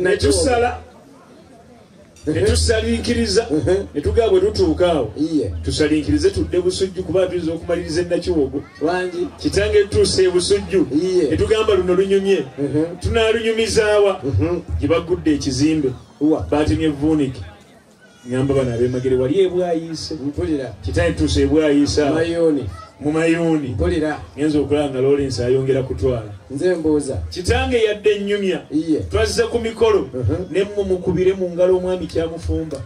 ne tusala ne tusalinkiriza ne tugamba bwe tutuuka awo tusalinkirize tudde busujju kuba tuyinza okumaliriza enakiwogo kitange tutuuse ebusujju ne tugamba luno lunyumye tunaalunyumizaawa gye bagudde ekizimbe batemye vuunike Ngamba bana abemagere wali ebwayiise. Mpulira. Kitaye tuuse ebwayiisa. Mayoni. Mu mayoni. Mpulira. Ngenza okulaba nga Lawrence ayongera kutwala. Nze mbuuza. Kitange yadde ennyumya. Iye. Twazze ku mikolo. Uh mhm. -huh. Ne mumukubire mu ngalo omwami kyamufumba.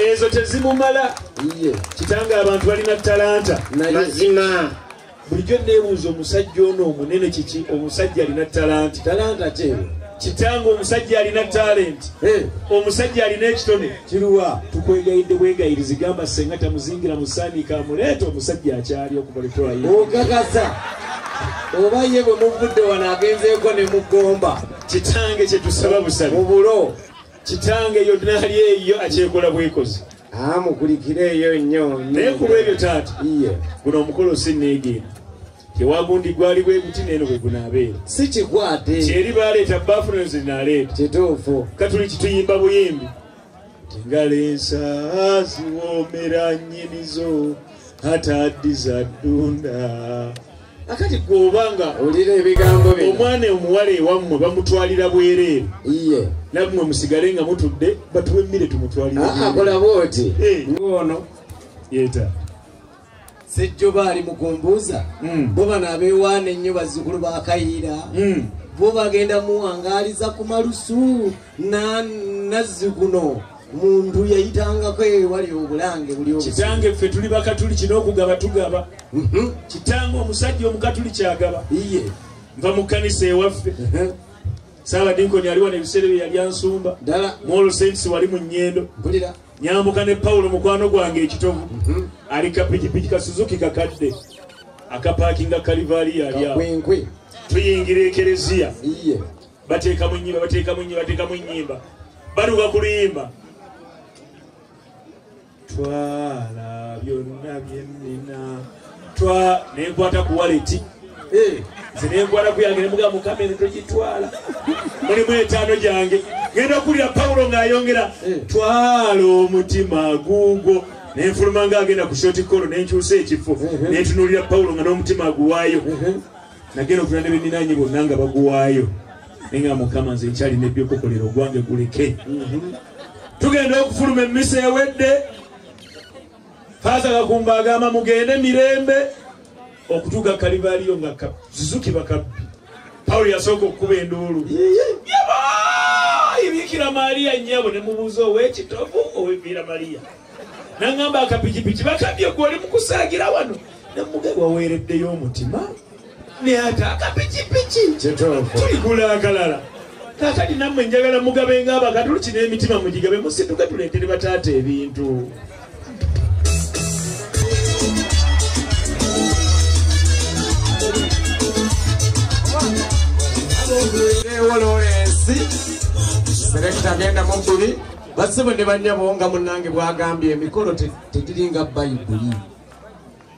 Ezo tezimumala. Iye. Kitange abantu balina talanta. Mazima. bulijjo nebuuza omusajja ono omunene kiki omusajja alina talanti talanta kyewe kitange omusajja alina talenti omusajja alina ekitone kiruwa tukwegayidde bwegayirizi gamba senga tamuzingira musaniika amuleeta omusajja akyali okubaletwaokakasa oba ye bwe muvudde wano agenzeeko ne mugomba kitange kyetusaba busabi mubulo kitange eyo dinaali eyo akyekola bwekozi amukulikira eyo nnyo naye ku lwebyo taata iye guno omukolo sinneegenda tewagundi gwali bwe guti neeno bwe gunaabeera si kikwate kyeri baleeta baafuna nze naaleeta kituufu katuli kituyimba buyimbi tingala ensa ziwoomera nnyinizo ate addiza ddunda akati gwobanga olira ebigambo bino omwana omuwala ewammwe bamutwalira bwereere iye nammwe musigale nga mutudde batuwe emmire tumutwalire ah, akola bwoti eh. ngoono yeta sejjoba ali mukumbuuza hmm. bo bano abewaana ennyo bazzukulu bakayiira hmm. bo bagenda muwangaliza ku malusu nazzi guno muntu yayitangako ewali obulange buli kitange ffe tuli bakatuliki n'okugaba tugaba mhm. kitange omusajja omukatuliki agaba iye nva mu kkanisa ewaffe mhm. saabadinkoni aliwa nebiseera bye yali ansumba ddala muolosentisi wali mu nnyendo mpulira nyambuka ne pawulo mukwano gwange ekitovu mhm. ali kapikipiki ka suzuki kakadde akapaakinga kalivaali yali awo tuyingira ekereziya iye bateekamu enyimba bateekamu enyimba bateekamu enyimba baluka ku luyimba twala byonna byennina twa nenkwata ku waleti eh, nze nenkwata kuyange nemuga mukama eno togitwala mulimu etaano gyange ngenda okulira pawulo ng'ayongera eh. twala omutima guugwo nenfuluma nga agenda ku shoti kolo nenkyusa ekifo eh, nentunulira pawulo nga n'omutima aguwaayo nagenda okula ne beninaanye bonna nga baguwaayo naye nga mukama nze nkyalina ebyokukolera ogwange guleke tugenda okufuluma emmisa ewedde faaza kakumba agamba mugende mirembe okutuuka kalivaaliyo nga zizukibwa kabbi pawulo yasooka okukuba enduulu ibikira maria nyabo nemubuuza owekitovu owebiira maria nangamba akapikipiki bakabye gwe oli mukusagira wano namuge waweereddeyo omutima naye ate akapikipiki tuligula akalala kakati nammwe njagala mugabe nga abakatuliki n'emitima mugigabe musituke tuleetere bataata ebintu ewoloensi selekita agenda mu bbiri basibo ne banyabo nga munange bwagambye emikolo tegiringa bayibuli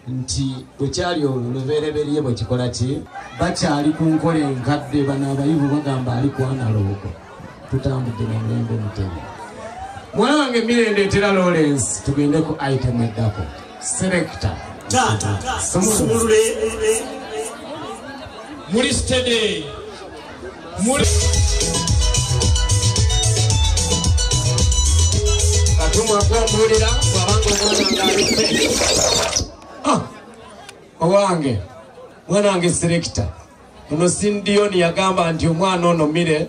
nti bwe kyali olubereberye bwe kikola ki bakyali ku nkola enkadde bano abayivu bagamba ali kwanaloogo tutambudde na mulembe mutemu mwana wange mirembe etera lawrence tugende ku item eddako selekta taata sumulule muli stede Ah, owange mwana wange serekita ono sindiyoni yagamba nti omwana ono mire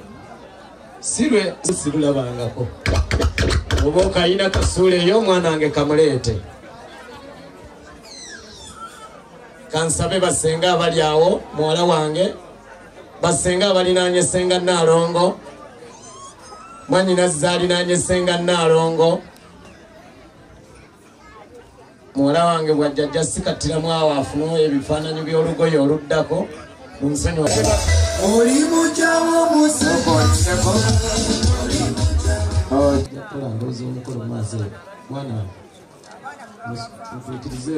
sirwe sirulabangako oba okayina kasuula eyo omwana wange kamuleete kansabe basenga abali awo muwala wange basenga abalinaanye senga naalongo mwanyinazi zalinaanye senga naalongo muwala wange bwajjajja sikattiramu awo afune ebifaananyi by'olugoye oluddako munsonyi oli mujawo musokoliseko oh, mutuukirize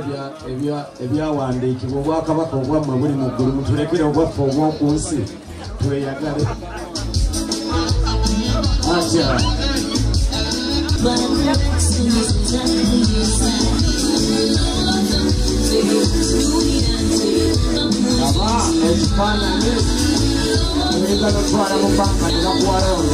ebyawandiikibwa obwakabaka obwammwe buli mu ggulu mutulekere obwaffe obw'oku nsi tweyagale atya aba ekifaananyi oyagala otwala mu banka nebakuwalaono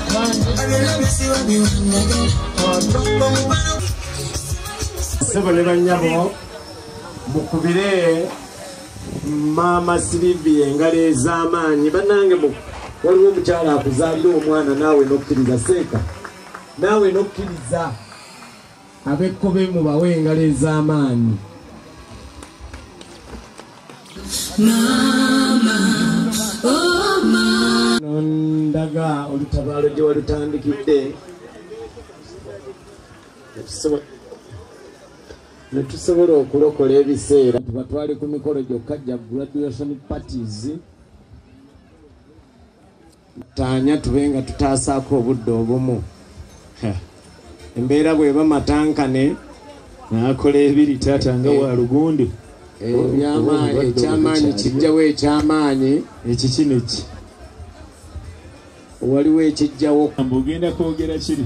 sebo ne banyabo mukubire maama sirivi engalo ez'amaanyi bannange waliwo omukyala akuzaalira omwana naawe n'okkiriza seeka naawe n'okkiriza Abekkobe mubawe engalo ez'amaanyi. Maama, oh maama. Nondaga olutabaalo gye walutandikidde. Ne tusobola okulokola ebiseera. Tuba twali ku mikolo gyokka gya graduation parties. taanya tube nga tutaasaako obudde obumu embeera bweba matankane nakola ebiri taata nga wa lugundi eh, ebyamaanyi eh, ekyamaanyi kijjawo ekyamaanyi ekikino eki waliwo ekijjawo ogenda kwogera kiri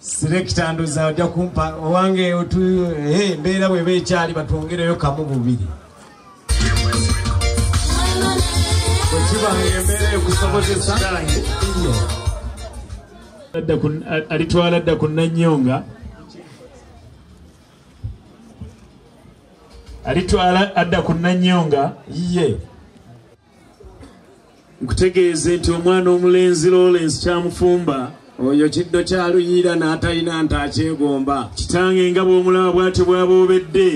selekita ndoza ojja kumpa owange embeera bweba ekyali batwongereyo kamu bubiri alitwala dda ku nanyonga alitwala adda ku nanyonga yiye nkutegeeze nti omwana omulenzi lawrence kyamufumba oyo kiddo kyaluyiira n'atalina nti akyegomba kitange nga bw'omulaba bwatyo bwaba obedde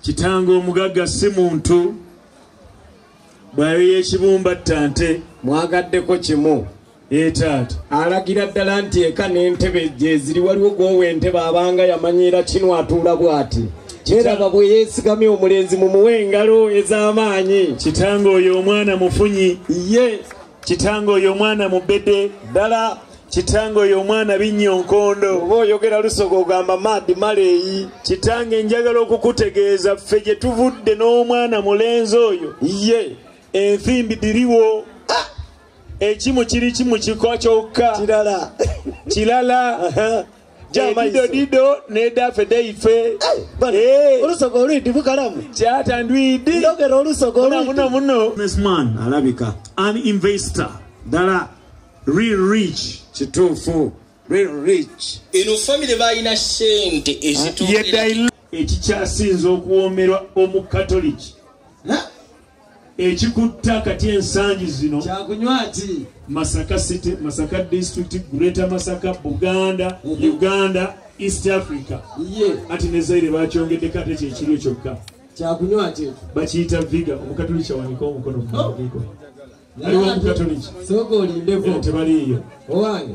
kitange omugagga si muntu bwayo y'ekibumba ttante mwagaddeko kimu etaata alagira ddala nti eka n'entebe gyeziri waliwo gwowa entebe abanga yamanyiira kino atuula bw'ati kiraba bwe yeesigamye omulenzi mu muwa engalo ez'amaanyi kitange oyo omwana mufunyi ye kitange oyo omwana mubede ddala kitange oyo omwana binnya onkondo oba oyogera lusoga ogamba maadi maleeyi kitange njagala okukutegeeza ffe gye tuvudde n'omwana mulenzi oyo ye enthimbi diriwo ekimu kiri kimu kiko kyokka kirala kirala edido dido nedafe deife olusoga olwidi bukalamu kyata ndwidi ndogera olusoga olwidi muno businessman alabika an investor dala real rich kituufu real rich eno family balina sente ezituukira ekikyasinza okuwoomerwa omukatoliki ekikutta kati ensangi zino kyakunywa ki masaka city masaka district greater masaka buganda mhm. uganda east africa ati nezaire bakyongedeko ate kyekirio kyokka kyakunywa ki bakiyita viga omukatuliki awanika omukono oh. aliwo omukatuliki soka olindeko tebaliiyo owange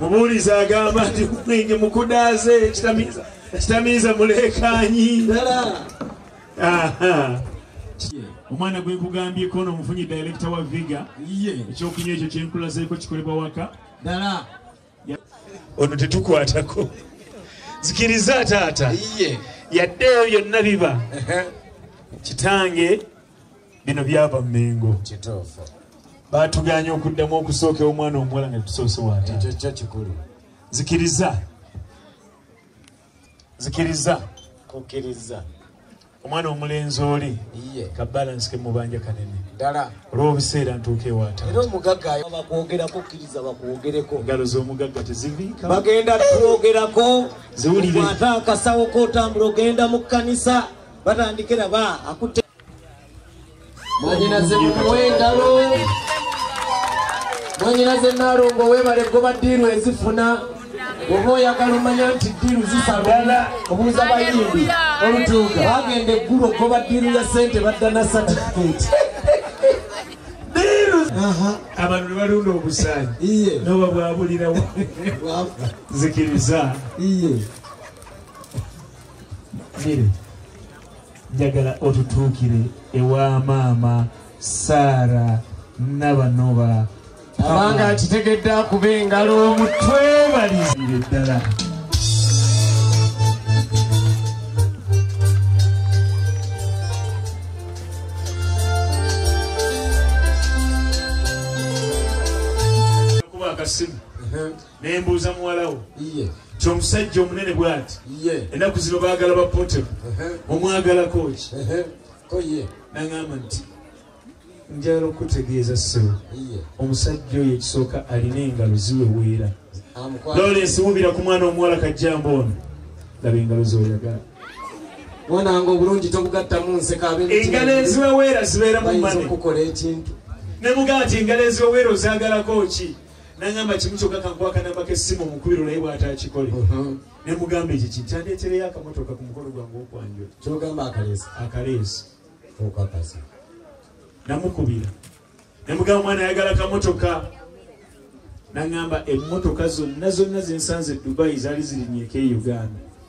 mubuulizi agamba nti mwenge mukudaaze kitamiiza muleekanyi omwana gwenkugambyeko no omufunyi direkita wa viga ekyokunywa ekyo kyenkulazeeko kikolebwa waka dala ono tetukwatako zikiriza taata yadde eyo byonna biba kitange bino byava mengo kituufu batuganye okuddamu okusooka omwana omuwala nga tusoose wata ekyo kyo kikulu zikiriza zikiriza kukiriza omwana omulenzi oli ka balansi ke mubanja kanene ddala olw'obuseera ntuuka ewaata era omugagga bakwogera kukkiriza bakwogereko ngalo z'omugagga teziviika bagenda kwogerako ziwulire ate akasawo k'otambula ogenda mu kkanisa batandikira ba akutte mwanyinaze mumuwe engalo mwanyinaze nalongo webale goba diiru ezifuna oba oyagala omanya nti diiru zisala obuuza bayimbi olutuuka bagenda eggulu ogoba diiru ya sente badda na satifikeeti abantu nebalunda obusayi noba bwabulirawo zikiriza njagala otutuukire ewa maama saara nabanoba abanga akitegedde akuba engalo omutwebalizire ddala naye mbuuza muwalawo nti omusajja omunene bwati enaku zino bagala bapotem omwagalako ki nagamba nti njagala okutegeeza sebo omusajja oyo ekisooka alina engalo ziweweera lawrence wubira ku mwana omuwala kajjamba ono laba engalo zoyagala mwananga obulungi tobugattamu nseka engalo eziweweera zibeera mu mane ne mugati engalo eziweweera ozagalako ki nangamba kimu kyoka kankuwa kanamba kesimu omukubiro naye bwatakikole uh-huh. nemugamba ekyo kintu kyandetereyo akamotoka ku mukono gwange okwanjula kyogamba akaleesi akaleesi okakasa namukubira nemugamba mwana ayagala kamotoka nangamba emotoka zonna zonna zensanze edubayi zaali zirinyeko e uganda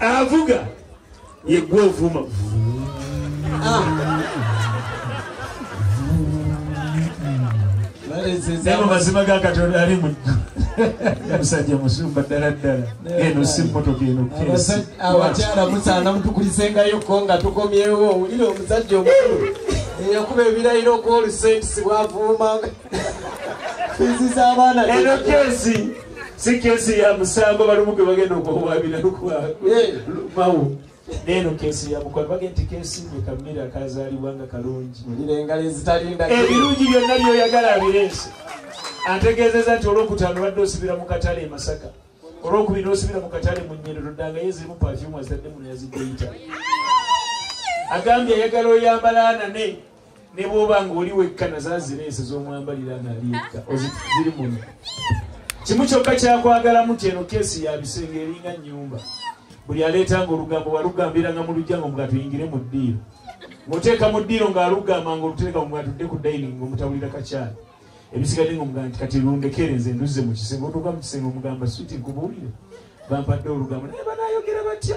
avuga yegwe ovuma abo mazima ga katonda ali mu musajja musumba ddala ddala eno si motoka eno abakyala musaana mutukulisengayoko nga tukomyewo owulire omusajja omukulu eyakuba ebirayiro okuwa olusentisi bwavuumanga fizi z'abaana eno kesi si kesi ya musango balumu gwe bagenda okuwaabira lukumawo neeno kesi ya mukwano bagenda nti kesi gwe kamira kazaalibwa nga kalungi ebirungi byonna byoyagala abireese ategeezeza nti olwokutaano badde osibira mu katale e masaka olwokubiri nosibira mu katale mu nyerero ddanga ye zirimu pafyumu azitadde muno yazidde yita agambye ayagala oyambala anane ne bwoba nga oli wekka nazazireese zomwambalira ngaali ekka oziri muno kimu kyokka kyakwagalamu nti eno keesi yabisenge eringa nyumba buli aleetanga olugambo walugambiranga mu lujja nga mugatuyingire mu ddiiro ngaoteeka mu ddiiro ngaalugamba nga oluteeka mugatudde ku daining ngaomutabulira kakyala ebisigadde nga omugamba nti kati lundekere nze nduzze mu kisenge otuuka mu kisenge omugamba switi nkubuulire bampadde olugambo naye banayogera batya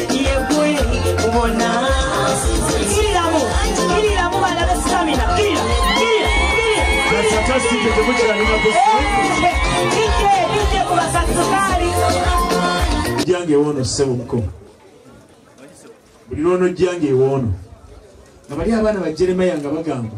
jange ewono sebo mukoma buli lwono jange ewono nga bali abaana bajeremaya nga bagamba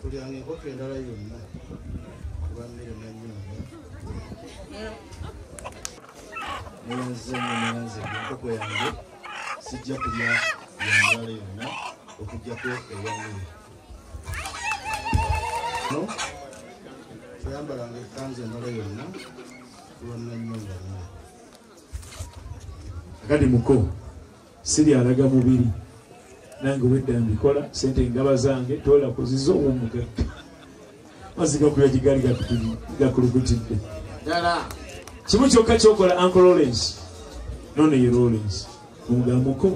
tulyanga enkoko endala yonna kuba mmere nanyumba neyanze neyanze enkoko yange sijja kulya yamulala yonna okujjako eyamere no toyambalanga ekanzu endala yonna kuba nanyumba mmere agadi muko sibyalaga mubiri nange obwedda mbikola sente engaba zange tola kuziza owomugagga mazigakula gigali gakulukutidde dala kimu kyokka kyokola anko lawrence nono ye lawrence omugambuko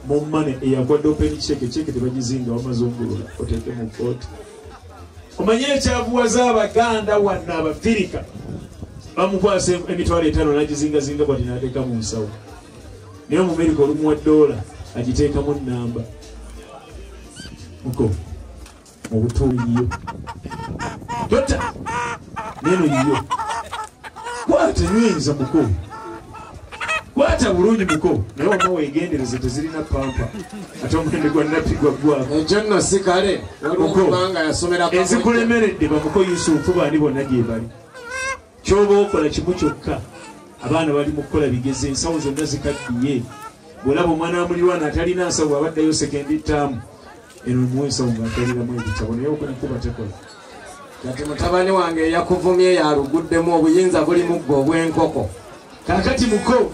mumane eyakwadde openi kyeke kyeke tebagizinga wamaze omugulula oteeke mu kooti omanye ekyavuwaza abaganda wanna abafirika bamukwasa emitwalo etaano nagizingazinga bwati nateeka mu nsawo naye omumerika olumuwa doola agiteekamu nnamba muko mu butuuli yiyo tota neno yiyo kwata nyinza muko kwata bulungi muko naye wama wegendereze tezirina pampa ate omulembe gwa nappi gwaggwako ekyo nno si kale waliwo kubanga yasomera enzikulemeredde bamuko yusufu baani bonna gyebali kyoba okola kimu kyokka abaana bali mu kukola bigezi ensawo zonna zikaddiye bwolaba omwana wa mulirwana atalina nsawo abaddayo sekendi taamu eno muwa ensawo ngaataliramu ebitabo naye okunakuba tekola kati mutabani wange eyakuvumye yaluguddemu obuyinza buli muggo obw'enkoko kakati muko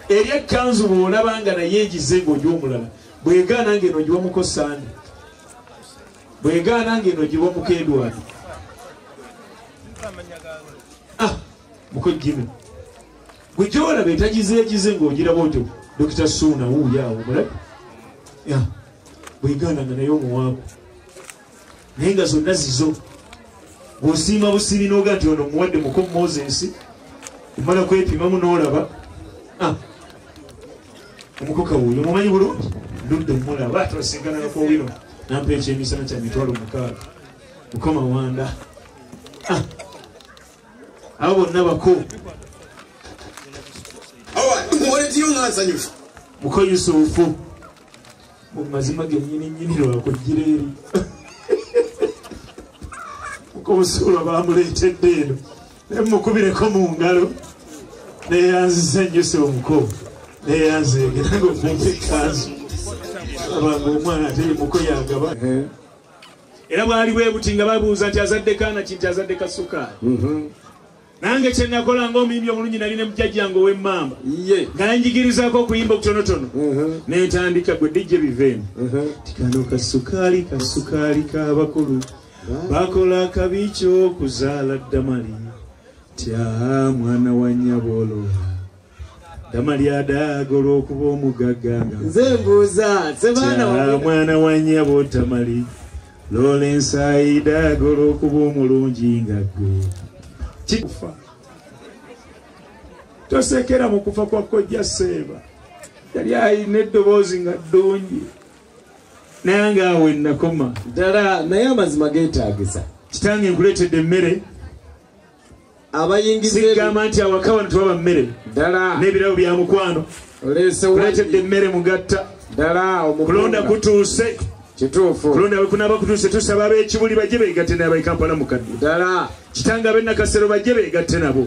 eri ekkanzu bwolaba nga naye egize ng'oja omulala bwegaana ng'eno ogiwa muko sande bwegaana ngeno giba omukendwani ah, mukojjino gwe gyolaba etagizeegize ngaogiraba otyo dokita suuna wuuyaawo mulabe bwegaana nga naye omuwaabu naye nga zonna zizo bwosiima busibi noga nti ono muwadde muko moses omala kwepimamu nolaba ah. omukoka wuyo mumanyi bulungi ludde mulaba twasingananako wino nampa ekyemisana kya mitwalo mukaaga mukama wanda ah. abo bonna bako muko yusufu mu mazima genyini nyini lwakujjira eri muko musuula bamuleetedde eno nemukubireko mu ngalo neyanzisa enjusa omuko neyanzeegera nga omuntu ekanzu abanga omwana ate yemuko yagaba era bwali bwebuti nga babuuza nti azadde kaana kinti azadde kasukaali mhm. nange kyenakola nga omuyimbi omulungi nali ne mujajjange owemmamba nga yanjigirizaako okuyimba okutonotono mhm. nentandika gwe dijje biveemu mhm. tikano kasukaali kasukaali kabakulu ka bakola akabi ky'okuzaala damali tya mwana wa nnyabolola damali adaaga olw'okuba omugagga nga nze mbuuza sebaana mwana wa nnyabo tamali loola ensaayi daaga olw'okuba omulungi nga gwe kikufa tosekera mu kufa kwa kojja seeba yali alina eddoboozi nga ddungi nange awo enakoma ddala naye amazima geetaagisa kitange nkuleetedde emmere abayingizigamba nti awaka wano tewaba mmere ddala n'ebirabo bya mukwano oleeseuleetedde emmere mugatta ddala omukulonda kutuuse kituufu kulonda wekunaba kutuuse tusaba ab'ekibuli bajje beegatte nabaikampala mukadde ddala kitanga ab'enakasero bajje beegatte nabo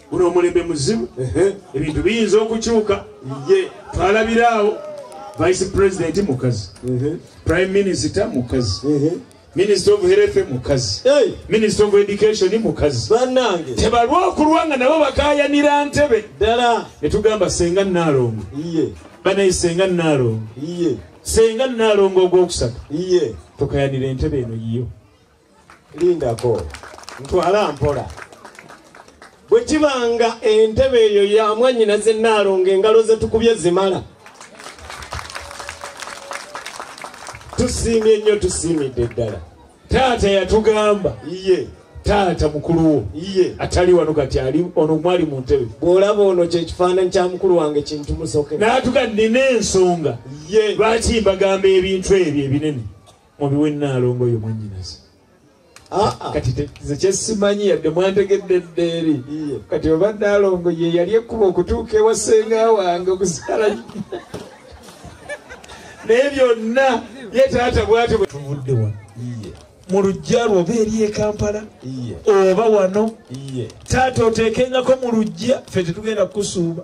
guno omulembe muzibu ebintu biyinza okukyuka ye twalabiraawo vice president mukazi prime minister mukazi minister of health mukazi minister of education mukazi banange tebalwa okulwa nga nabo bakayanira ntebe ddala netugamba senga naalongo banaye senga naalongo senga naalongo ogwokusatu tukayanira entebe eno yiyo lindako ntwala mpola bwe kiba nga entebe eyo ya mwanyina ze naalonga engalo ze tukubye zimala tusiimye nnyo tusiimidde ddala taata yatugamba iye taata mukulu wo iye atali wano kati ali ono mwali mu ntebe bw'olaba ono kyekifaananyi kya mukulu wange kintu musoke naatuga nina ensonga ye lwaki mbagamba ebintu ebyo ebinene mubiwe naalongo oyo mwanyinaze ah, ah. kati nze kyesimanyi yadde mwantegedde eddeeri kati oba naalongo ye yali ekkuba okutuuka ewa senga wange okusala naye byonna ye taata bwatyo bwetuvudde wano mu lujja lwo oba eri ekampala oba wano taata oteekengako mu lujja fe tetugenda kukusuuba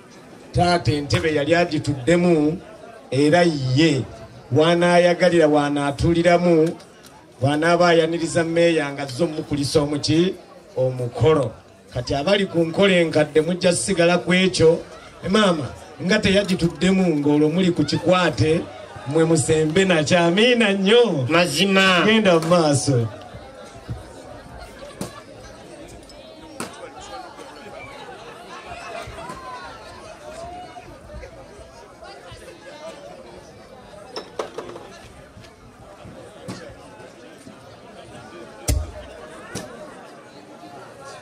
taata entebe yali agituddemu era ye waanaayagalira waanaatuliramu bw'anaaba ayaniriza meeya nga zze omukulisa omuki omukolo kati abali ku nkola enkadde mujja sigala ku ekyo maama nga teyagituddemu ng'olwo muli ku kikwate mwe musembe nakyo amiina nnyo mazima genda mu maaso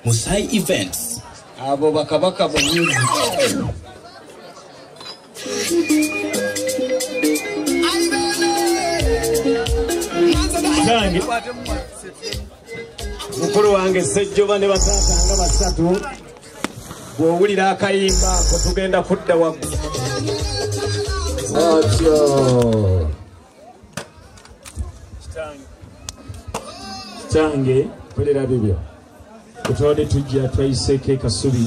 Musai Events. Abo bakabaka bo music. Zange. mukulu wange sejjoba ne bataata nga basatu bw'owulira akayimba ko tugenda kudda waggulu otyo kitange kolera bibyo kutwade tujja twayiseeko ekasubi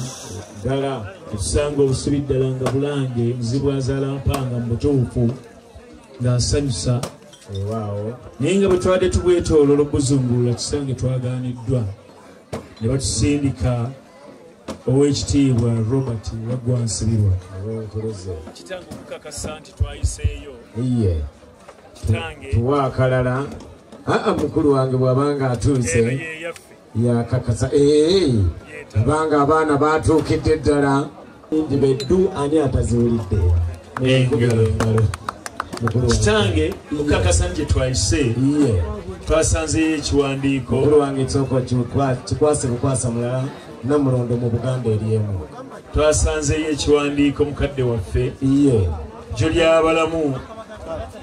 ddala otusanga obusubi ddala nga bulange muzibwazaalampanga mu butuufu nga nsanyusa ewaawo naye nga bwe twabadde tubwetoolola okuzungulula kisange twagaaniddwa ne batusindika ow'ekitiibwa robert waggwa nsibirwa kitange okukakasa nti twayiseeyo iye tuwa akalala aa mukulu wange bw'abanga atuuse yakakasa ee abanga abaana batuukidde ddala nti beddu ani ataziwulidde kitange mukakasa nti twayise twasanzeyo ekiwandiiko mukulu wange ekisoko kikwase bukwasa mulala namulondo mu buganda eri emu twasanzeyo ekiwandiiko mukadde waffe iye jo lyabalamu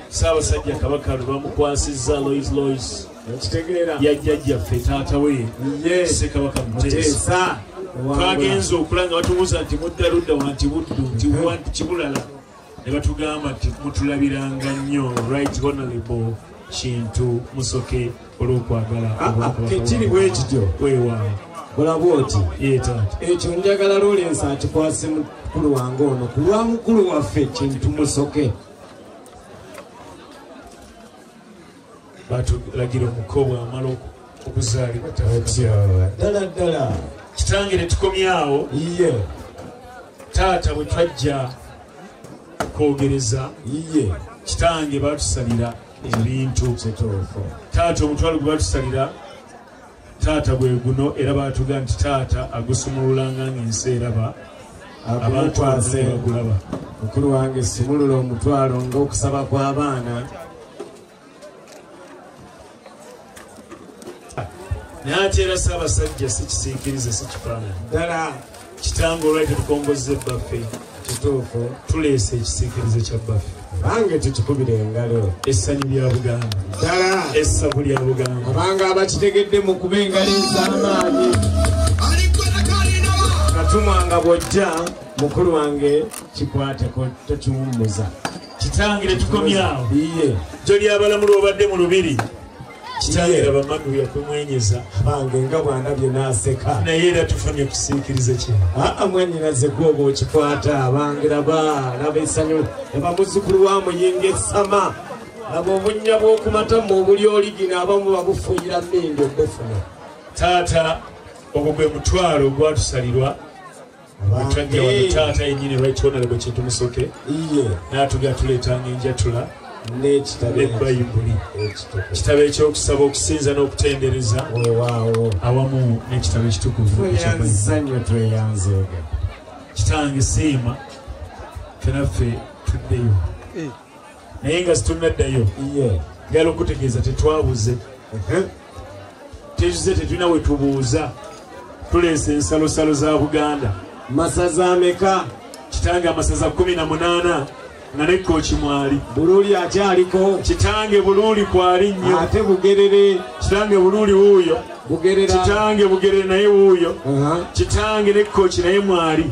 saabasajja kabaka lwebamukwasizza lois lois ya jjajjaffe taata we sekabaka muteesa twagenza okula nga batubuuza nti mudda ludda wanti buddu nti wanti kibulala ne batugamba nti mutulabiranga nnyo right honorable kintu musoke olw'okwagala ah, ah, kekiri bwekityo weewaawo olaba oti ekyo njagala lorensi akikwase mukulu wange ono ku lwa mukulu waffe kintu musoke batulagira omuko bwamala okuzaalibwa ddala ddala kitange netukomyawo iye taata bwe twajja kwogereza iye kitange batusalira ebintu taata omutwalo gwe batusalira taata gwe guno era baatuga nti taata agusumululanga ng'ensi eraba abantu agulaba mukulu wange simulula omutwalo ng'okusaba kw'abaana naye ate era saabasajja si kisiikirize si kifaanani ddala kitange olwali tetukongozza ebbaffe kituufu tuleese ekisiikirize kya bbaffe bange tutukubira engalo essanyu lya buganda ddala essabu lya buganda abanga abakitegedde mu kuba engalo ez'amaanyi katumwa nga bw'ojja mukulu wange kikwateko tokiwummuza kitange tetukomyawo iye jjo lyabalamula obadde mu lubiri kitalo era bamadu yakumwenyeza bange nga bwandabye naseka naye era tufunye kusiikiriza kye aa mwanyinaze gwoba okikwata bange laba laba esanyu laba muzukulu wa muyinga esama laba obunya bwokumatamu obuli oligina abamu babufuuyira mindi obufuna taata ogwo gwe mutwalo ogwatusalirwa Mutwajja wa taata yenyini right honorable kintu musoke. Iye. Natuga tuleta ngenja tula. Nekitabe. Nebayibuli. Kitabe ekyokusaba okusinza n'okutendereza. Wewawo. Awamu nekitabe ekitukuvu. Tweyanza nyo tweyanza oga. Kitange siima. Fenaffe tuddeyo. Eh. naye nga situnnaddayo ngala okutegeeza tetwabuze tetuze tetulina wetubuuza tuleesa ensalosalo za buganda masaza ameka kitange amasaza 18 nga nekkooki mwali buluuli akyaliko kitange buluuli kwali nnyo ate bugerere kitange buluuli wuuyo bugerera kitange bugerere naye wuuyo kitange nekkooki naye mwali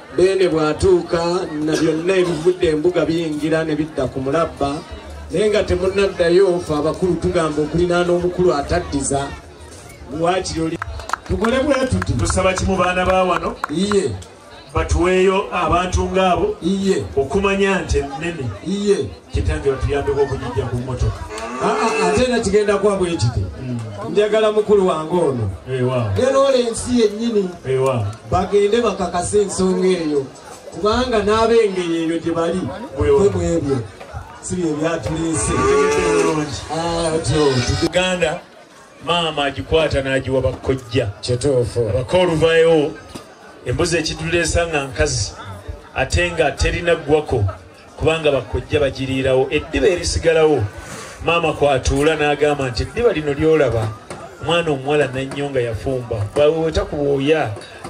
Beene bw'atuuka na byonna ebivudde embuga biyingira ne bidda ku mulabba naye nga temunaddayo fe abakulu tugamba okulinaana omukulu ataddiza waakiri oli tukole bwetuti tusaba kimu baana ba wano iye batuweeyo abantu ng'abo iye okumanya nti ennene iye kitange batuyambeko okugijja ku mmotoka ah, ah, ah, ate era kigenda kuba bwe kiti hmm. njagala mukulu wange ono era ola ensi yennyini bagende bakakase ensonga eyo kubanga n'ab'engeri eyo gye bali bwe bwebyo si bye byatuleese uganda maama agikwata n'agiwa bakkojja kituufu abako oluvayo embuzi ekituleesa nga nkazi ate nga terina ggwako kubanga bakkojja bagiriirawo eddiba erisigalawo maama kwatuula n'agamba nti eddiba lino lyolaba omwana omuwala nannyo nga yafumba bweweta ku bwoya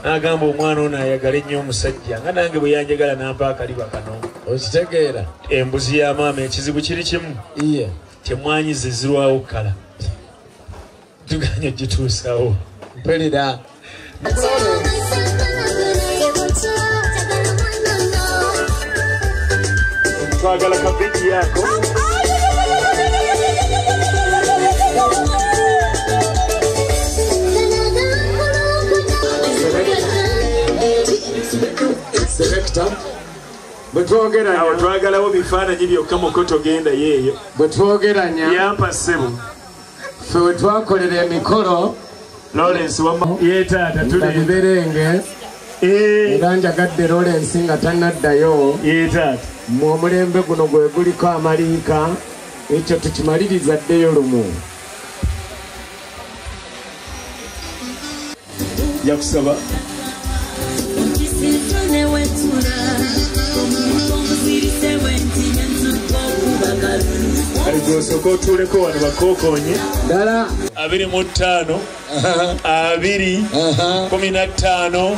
n'agamba omwana ono ayagala ennyo omusajja nga nange bwe yanjagala nampa akaliba kano okitegeera embuzi ya maama ekizibu kiri kimu iye temwanyi zezirwawo kala tuganye gituusawo mpelera twagala kabiki yako Selector. bwetwogera awo twagalawo bifaananyi byokka mukoto genda yeeyo bwetwogeranya yampa ssebo ffe we twakolera emikolo lawrence wama yetaata tuli berenge Eh. era njagadde lorensi nga tanaddayo mu omulembe guno gwe guliko amaliika ekyo tukimaliriza ddeyo lumu yakusaba gwosoka otuuleko wano bakokonye dala abiri mu ttaano abiri kumi na ttaano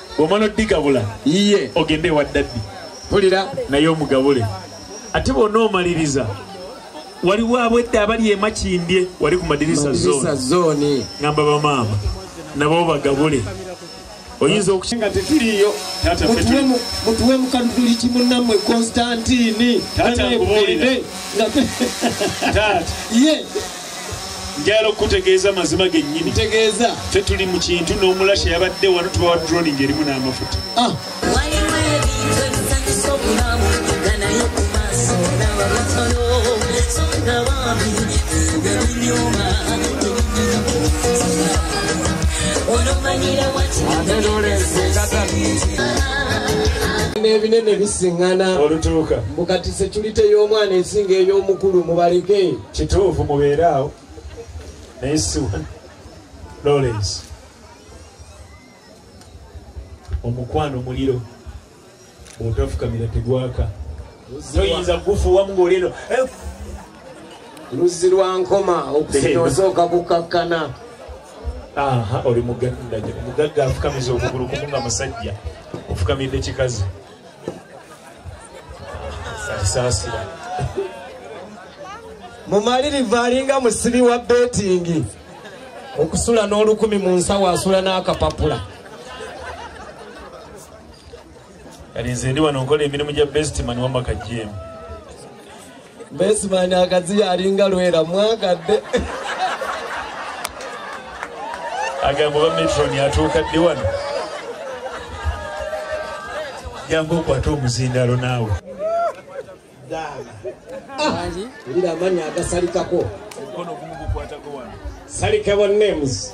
bwomala odigabula iye ogende ewa daddi pulira naye omugabule ate bwona omaliriza waliwo abwedda abali emakindye wali ku madirisa zoni ngamba bamaama nabo bagabule oyinza okusinga tetiriyo mutuwe mukanuduli kimunamwe konstantini taata nkubuulire taata ye njagala okukutegeeza amazima gennyini tegeeza fe tuli mu kintu n'omulasha yabadde wano tubawa droni ng'erimu n'amafuta ah. n'ebinene bisiŋŋana mbu kati sekulite y'omwana esinga ey'omukulu mubaleke Kituufu mubeere awo naye si wano Lawrence omukwano muliro bwotafukamira tegwaka toyinza kugufuuwamu ng'oleno luzzi lwa nkoma okusina osooka kukakkana aha oli mugagga mugagga afukamiza okugulu kumu nga musajja ofukamidde kikazi saasira mumalirivu alinga musibi wa betingi okusula n'olukumi mu nsawo asula n'akapapula kati nze ndi wano nkola emirimu gya bestiman wamaka jemu Besimani akaziya alinga lwera mwagadde. Agambo ba metron yatuuka ddi wano. Jangu okwata omuzindalo naawe. Daala. Ah, wulira amannya agasalikako. Omukono gumu gukwatako wano. Salikabo names.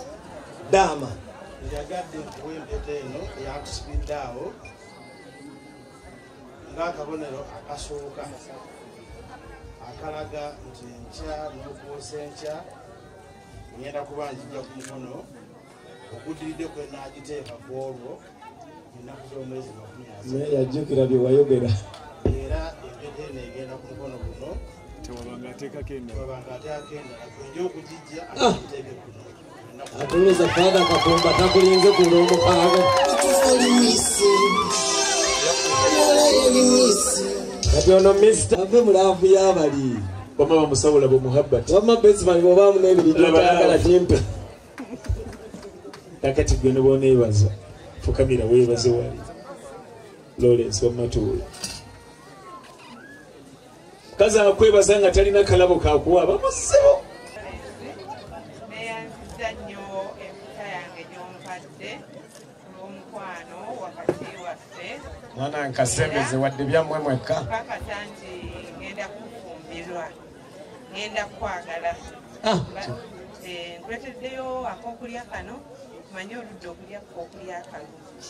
Daama. Yagadde kuwa empeta eno eyakusibiddaawo. ng'akabonero akasooka akalaga nti enkya nokuusa enkya ngenda kuba njija ku mukono oguddiridde kwe naagiteeka ku olwo ennaku z'omwezi makumi naye yajjukira bye wayogera era empeta eno egenda ku mukono guno tewabanga ateekako endala tewabanga ateekako endala kwenja okugijja aiteeke ah! kuno Atuliza fada kakumba takulinze ku lw'omukaaga. Kati ono Mr. Ave mu laavu y'abali. Bama bamusabula bu muhabbati. Bama Bezman bw'obaamu n'ebiri gy'otayagala kimpe. Kakati gwe ne bw'oneebaza fukamira weebaze wali. Lawrence wamatuula. kaza akwebaza nga talina kalabo kakuwa bamusibo neyanziza nnyo emputa yange gyompadde olwomukwano wakati waffe mwana nkasembeze wadde byammwe mwekka kakasa nti ngenda kufumbirwa ngenda kukwagala ah, eh, nkwetedeyo akokulya kano manye oludde okulya kokulya kalungi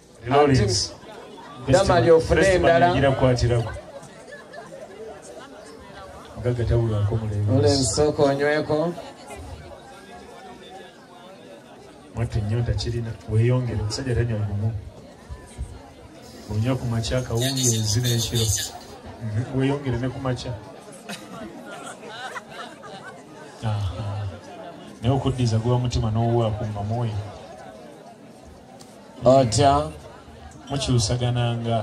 namali ofune endala nsooka onyweko mwattu enyonta kirina weyongere omusajja tanywa gumu onywa ku makya akawungeezi n'ekiro mhm, weyongere ne ku makya naye okuddiza guba mutima n'owuwa ku mamoyo otya mukyusagananga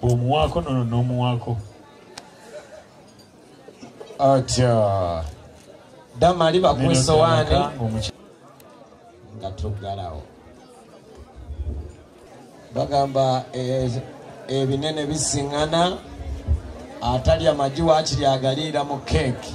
omuwaako nono n'omuwaako otya damali bakuwa esowaani nga tuggalawo bagamba eh, ebinene bisiŋŋana atalya magi waakiri agaliira mu keeki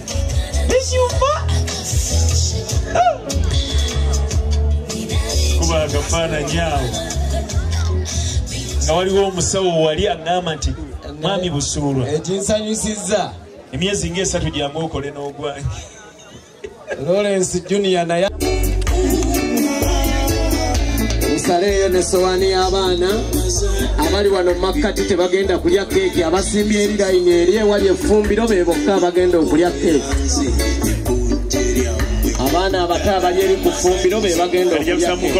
ekyuma kuba akafaananyi awo nga waliwo omusawo wali agamba nti mwami busuulwa ekinsanyusiza emyezi ngaesatu gyamu okole n'ogwanyi lawrence junior naye nsaleeyo ne sowani y'abaana abali wano makkati tebagenda kulya keeki abasimbye eri layini eri ewali effumbiro be bokka abagenda okulya keeki abaana abato abali eri ku ffumbiro be bagenda okulya keeki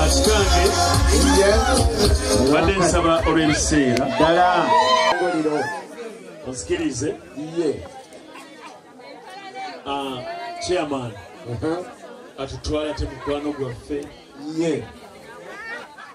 akikange obadde nsaba olw'ebiseera ddala ngoliro osikirize ye ah, chairman atutwala te mukwano gwaffe ye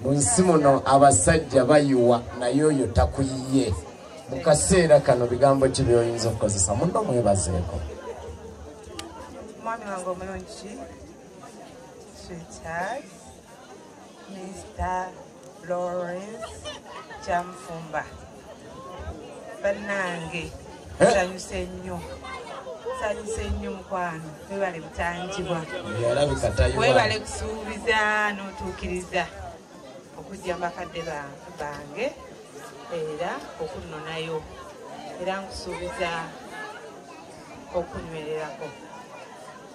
mu nsi muno abasajja bayiwa naye oyo takuyiye mu kaseera kano bigambo ki byoyinza okukozesa muno mwebazeeko omwami wange omulungi sweetheart mr lawrence kyamufumba bannange nsanyuse nnyo nsanyuse nnyo mukwano webale butangibwa webale kusuubiza n'otuukiriza okujja mu bakadde bange era okunnonayo era nkusuubiza okunywererako